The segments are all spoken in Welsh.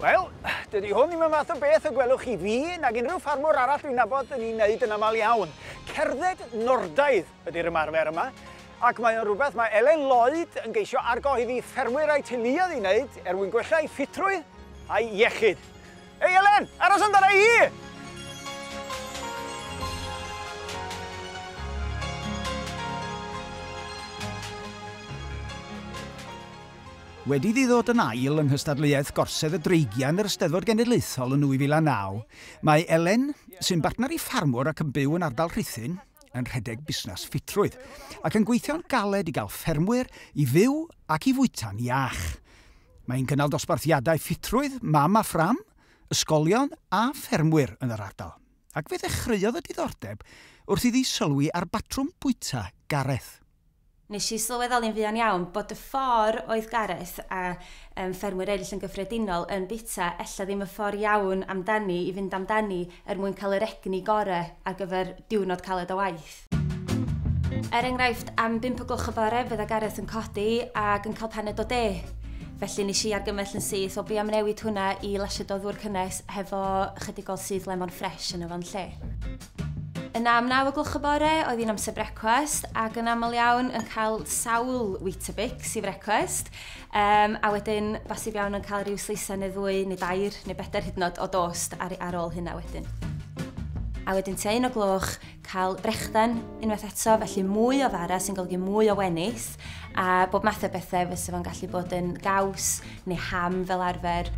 Wel, dydy hwn ddim y math o beth y gwelwch chi fi nag unrhyw ffarmwr arall dwi'n nabod yn ei wneud yn aml iawn. Cerdded Nordaidd ydy'r ymarfer yma, ac mae o'n rhywbeth mae Elen Lloyd yn geisio argohebu ffermwyr a'i teuluoedd i wneud er mwyn gwella ei ffitrwydd a'i iechyd. Hei Elen! Aros amdana i! Wedi iddi ddod yn ail yng nghystadleuaeth Gorsedd y Dreigiau yn yr Eisteddfod Genedlaethol yn 2009, mae Elen, sy'n bartner i ffarmwr ac yn byw yn ardal Rhuthun, yn rhedeg busnes ffitrwydd, ac yn gweithio'n galed i gael ffermwyr i fyw ac i fwyta'n iach. Mae'n cynnal dosbarthiadau ffitrwydd mam a phram, ysgolion a ffermwyr yn yr ardal, ac fe ddechreuodd y diddordeb wrth iddi sylwi ar batrwm bwyta Gareth. Nes i sylweddoli'n fuan iawn bod y ffor' oedd Gareth a yym ffermwyr eryll yn gyffredinol yn bwyta ella ddim y ffor' iawn amdani i fynd amdani er mwyn cael yr egni gore ar gyfer diwrnod caled o waith. Er enghraifft, am bump o gloch y bore fe dda Gareth yn codi ac yn cael paned o de. Felly nes i argymell yn syth o be am newid hwnna i lasied o ddŵr cynnes hefo chydig o syth lemon ffresh yn y fan lle. Yna am naw o gloch y bore oedd hi'n amser brecwast ac yn aml iawn yn cael sawl Weetabix i frecwast um, a wedyn bosib iawn yn cael rhyw sleisau neu ddwy neu dair neu bedair hyd yn oed o dost ar, ar ôl hynna wedyn. A wedyn tua un o gloch cael brechdan unwaith eto, felly mwy o fara sy'n golygu mwy o wenys a bob math o bethau fysa fo'n gallu bod yn gaws neu ham fel arfer.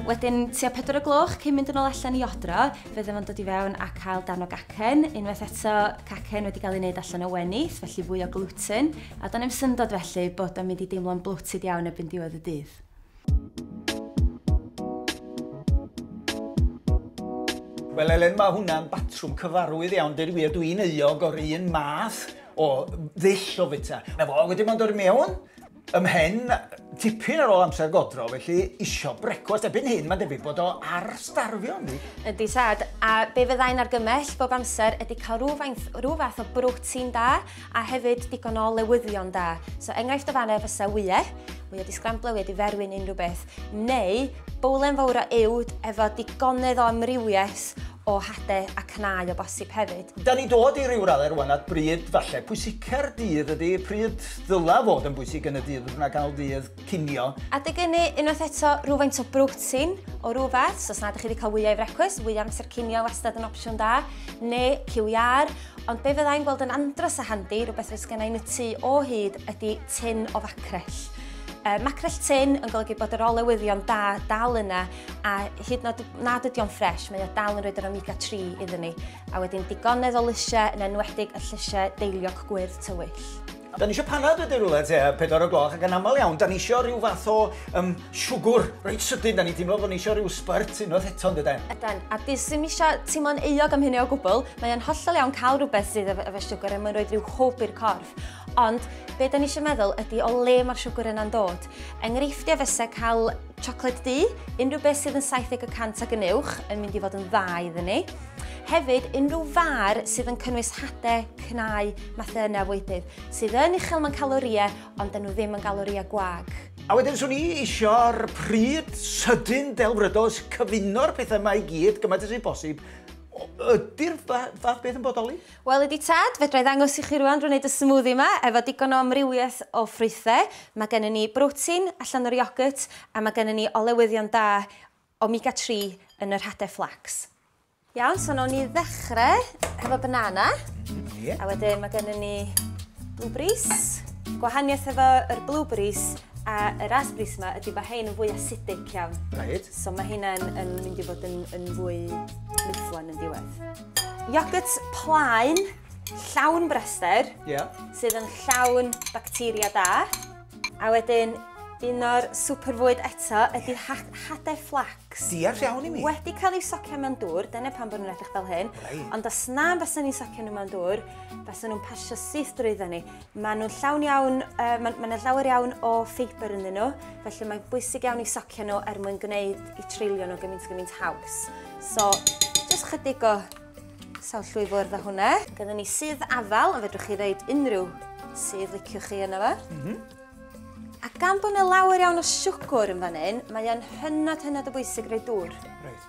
Wedyn, tua 4 o gloch, cyn mynd yn ôl allan i odro, fe ddim yn dod i fewn a cael dan o gacen. Unwaith eto, cacen wedi cael ei wneud allan o wenith, felly fwy o gluten. A do'n i'm syndod felly bod o'n mynd i deimlo'n bloated iawn erbyn diwedd y dydd. Wel Elen, mae hwnna'n batrwm cyfarwydd iawn, dweud y wir, dwi'n euog o'r un math o ddull o fita. Na fo, wedyn mae'n dod i mewn, ym mhen tipyn ar ôl amser godro, felly isio brecwast ebyn hyn, mae'n debyg bod o ar starfio ni. Ydy sad, a be fyddai'n argymell bob amser ydy cael rhyw fath o brotein da, a hefyd digon o lewyddion da. So enghraifft o fanna fysa wyau, wyau di sgramblo, wyau di ferwyn unrhyw beth, neu bowlen fawr o uwd efo digonedd o amrywiaeth o hade a cnau o bosib hefyd. Da ni dod i ryw raddau rwan at bryd falle pwysica'r dydd ydy, pryd ddyla fod yn bwysig yn y dydd fydd yna ganol dydd cinio. Adeg ynny, unwaith eto, rhywfaint o brotein o rhywfath, so os nad ydych chi wedi cael wyau i frecwast, wyau amser cinio wastad yn opsiwn da, neu QER, Ond be fyddai'n gweld yn andros a handi, rhywbeth fydd sgennau yn y tu o hyd, ydy tin o facrell. Uh, macrell tin yn golygu bod yr olewyddion da dal yna a hyd nod nad ydy o'n ffres, mae o dal yn rhoi yr omega 3 iddyn ni. A wedyn digonedd o lysiau yn enwedig y llysiau deiliog gwyrdd tywyll. Dan ni eisiau panad wedyn rhywle te, pedwar o gloch, ac yn aml iawn, dan ni eisiau rhyw fath o um, siwgwr reit sydyn, dan ni teimlo bod ni eisiau rhyw spurt unwaith eto yn dydan. Ydan, a di sy'n eisiau teimlo'n euog am hynny o gwbl, mae'n hollol iawn cael rhywbeth sydd efo siwgwr er mwyn rhoi rhyw hwb i'r corff. Ond be da ni eisiau meddwl ydy o le mae'r siwgwr yna'n dod. Enghreifftiau fysa cael Siocled du, unrhyw beth sydd yn 70 y cant ag yn uwch yn mynd i fod yn dda iddyn ni. Hefyd, unrhyw far sydd yn cynnwys hade, cnau, mathau yna fwydydd, sydd yn uchel mewn calorïau, ond dyn nhw ddim yn galorïau gwag. A wedyn swn i eisiau'r pryd sydyn delfrydos cyfuno'r pethau yma i gyd gymaint ys i bosib. Ydy'r fath beth yn bodoli? Wel ydi tad, fedra i ddangos i chi rwan drwy wneud y smoothie yma efo digon o amrywiaeth o ffrwythau. Mae gennym ni brotein allan o'r iogwrt a mae gennym ni olewyddion da omega tri yn yr hade flax. Iawn, so nawn ni ddechrau hefo banana. Ie. A wedyn mae gennym ni blueberries. Gwahaniaeth efo yr blueberries a y raspberries yma ydi bod hein yn fwy acidic iawn. Reit. So mae heina'n yn mynd i fod yn yn fwy mufflon yn diwedd. Iogwrt plaen, llawn braster, yeah. sydd yn llawn bacteria da. A wedyn, un o'r super fwyd eto ydy ha hade flax. Diar iawn i mi. Wedi cael ei socio mewn dŵr, dyna pan bod nhw'n edrych fel hyn. Right. Ond os na, bys nhw'n socio nhw mewn dŵr, bys nhw'n pasio syth drwyddo ni. Maen nhw'n llawn iawn, uh, maen ma nhw llawer iawn o ffeibr ynddyn nhw, felly mae'n bwysig iawn i socio nhw er mwyn gwneud i treulio nhw gymaint gymaint haws. So, jyst chydig o sawl llwy fwrdd o hwnna. Gyda ni sydd afal, a fedrwch chi ddeud unrhyw sydd liciwch chi yna fo. Mm -hmm. A gan bod yna lawer iawn o siwgwr yn fan hyn, mae o'n hynod hynod o bwysig rei dŵr. Right.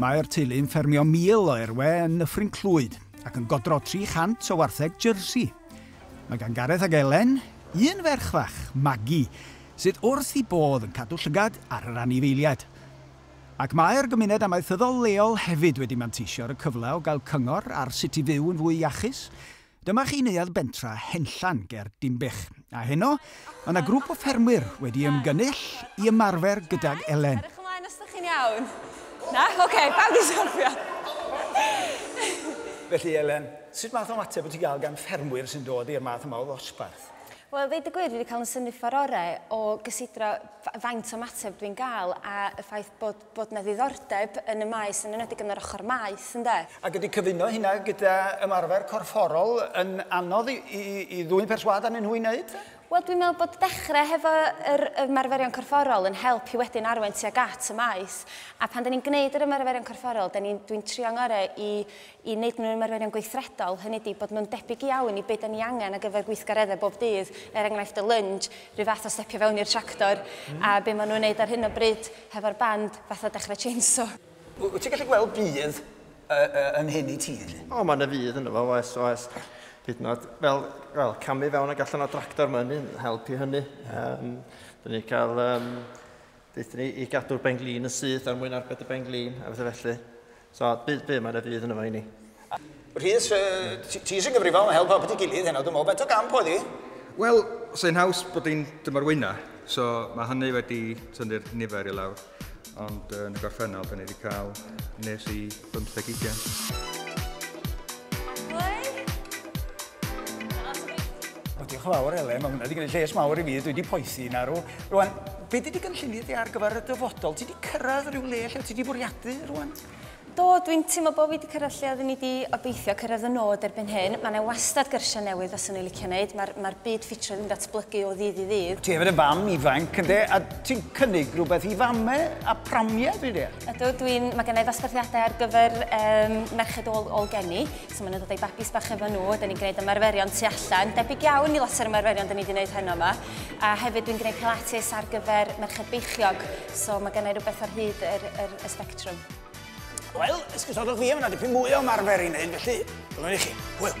Mae'r teulu yn ffermio 1,000 o erwe yn Nyffryn Clwyd ac yn godro 300 o wartheg Jersey. Mae gan Gareth ac Elen un ferch fach, Maggie, sydd wrth i bodd yn cadw llygad ar yr anifeiliaid. Ac mae'r gymuned amaethyddol leol hefyd wedi manteisio ar y cyfle o gael cyngor ar sut i fyw yn fwy iachus, Dyma chi neuadd bentra Henllan ger Dinbych, a heno mae 'na grŵp o ffermwyr wedi ymgynnull i ymarfer gydag Elen. Edrych ymlaen os dych chi'n iawn. Na? Ok, pawb di syrthio. Felly Elen, sut math o ymateb wyt ti'n cael gan ffermwyr sy'n dod i'r math yma o ddosbarth? Wel, ddeud y gwir, dwi wedi cael yn synifa'r orau o gysidro faint o ymateb dwi'n gael a y ffaith bod bod 'na ddiddordeb yn y maes, yn enwedig yn yr ochr maeth, ynde? Ac ydy cyfuno hynna gyda ymarfer corfforol yn anodd i, i, i ddwyn perswâd arnyn nhw i wneud e? Wel, dwi'n meddwl bod dechrau hefo yr ymarferion corfforol yn help i wedyn arwain tuag at y maes. A pan da ni'n gwneud yr ymarferion corfforol, da ni'n, dwi'n trio ngorau i i wneud nhw'n ymarferion gweithredol, hynny ydi, bod nhw'n debyg iawn i be dan ni angen ar gyfer gweithgareddau bob dydd, er enghraifft y lunge, rhyw fath o stepio fewn i'r tractor, a be maen nhw'n wneud ar hyn o bryd hefo'r band, fatha dechrau chainsaw. Wyt ti'n gallu gweld budd yn hyn i ti felly? O, mae yna fudd ynddo fo, oes, oes. Hyd yn oed, fel, wel, camu fewn ac allan o'r tractor, mae hynny'n help i hynny. Um, Dyn ni cael, um, deuthon ni i gadw'r benglin yn syth er mwyn arbed y benglin a bethau felly. So, bydd, bydd, mae yna fydd yn yma i ni. Rhys, ti eisiau gyfrifol, help help ti gilydd heno, dwi'n meddwl, beth o gamp oedd hi? Wel, sy'n haws bod hi'n dymor wyna, so mae hynny wedi tynnu'r nifer i lawr. Ond yn y gorffennol, da ni wedi cael nes i 50 ugen. Diolch yn fawr, Elen, mae hwnna wedi gwneud lles mawr i fi, dwi wedi poethi narw. Rwan, Be di dy gynlluniau di ar gyfer y dyfodol? Ti di cyrraedd rhyw le lle ti di bwriadu rwan? Do, dwi'n teimlo bod fi wedi cyrraedd lle oeddwn i wedi obeithio cyrraedd fy nod erbyn hyn. Mae yna wastad gyrsiau newydd faswn i'n licio wneud, mae'r mae'r byd ffitrwydd yn datblygu o ddydd i ddydd. Ti hefyd yn fam ifanc ynde, a ti'n cynnig rhywbeth i famau a pramiau dwi'n deall? Ydw, dwi'n... mae gennau ddosbarthiadau ar gyfer um, merched ôl, ôl geni, so maen nhw'n dod â'i babis bach efo nhw, da ni'n gwneud ymarferion tu allan, debyg iawn i lot o'r ymarferion da ni wedi gwneud heno yma. A hefyd dwi'n gwneud pilates ar gyfer merched beichiog, so mae gennau rhywbeth ar hyd yr, yr, y spectrum. Wel, esgusodwch fi, mae yna dipyn mwy o ymarfer i wneud, felly dyma i chi. Hwyl.